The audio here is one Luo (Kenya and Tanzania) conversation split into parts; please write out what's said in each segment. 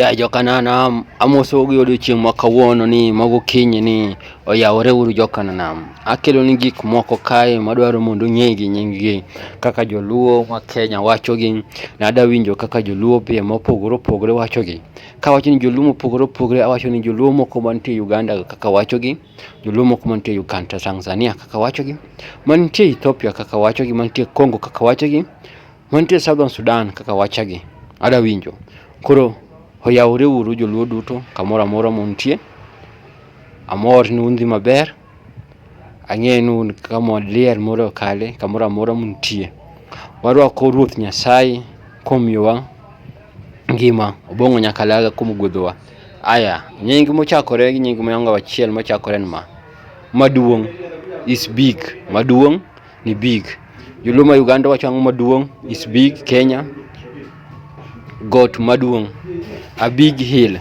Ya Jokananam, amosou gi odiechieng' ma kawuono ni mago kinyi ni oyawore uru Jokananam. Akelo ni gik moko kae madwaro mondo ung'e gi nyinggi kaka joluo ma Kenya wachogi. Nada winjo kaka joluo pie mopogore opogore wachogi. Kawacho ni joluo mopogore opogore awacho ni joluo moko mantie Uganda kaka wachogi, joluo moko mantie Uganda, Tanzania kaka wachogi, mantie Ethiopia kaka wachogi, mantie Congo kaka wachogi. Mantie Southern Sudan kaka wachagi ada winjo. Koro oyawore uru joluo duto kamoro amora muntie. Amor ni undhi maber. Ang'eyo ni un kama liel moro kale kamoro amora muntie. Warwako Ruoth Nyasaye komiyowa ngima obong'o nyaka laga kuom gwedhowa. Aya, nying mochakore gi nying mwangawa achiel mochakore ni ma. Maduong' is big. Maduong' ni big. Joluo ma Uganda wacho ang'o maduong' is big. Kenya got maduong' a big hill.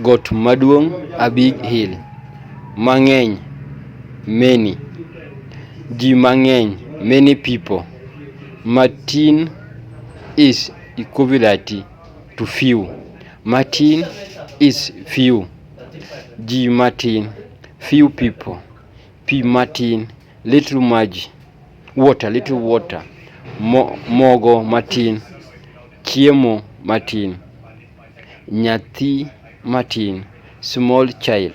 Got maduong' a big hill. Mang'eny many. Ji mang'eny many people. Matin is equivalent to few. Matin is few. Ji matin few people. pi matin, little maji, water, little water, mo, mogo matin, chiemo matin, nyathi matin, small child,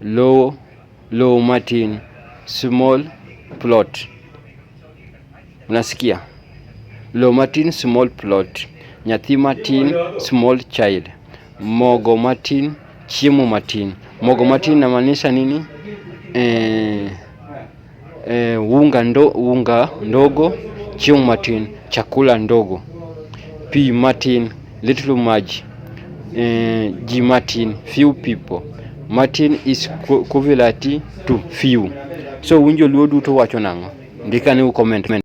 lowo, lowo matin, small plot. Unasikia? Lo matin small plot, nyathi matin small child, mogo matin, chiemo matin. Mogo matin namaanisha nini? Eh, eh, unga, ndo, unga ndogo, chiemo matin, chakula ndogo, pi matin, little maji, eh, ji matin, few people. Matin is equivalent to few. So winjo luo duto wacho nang'o? Ndikane u comment.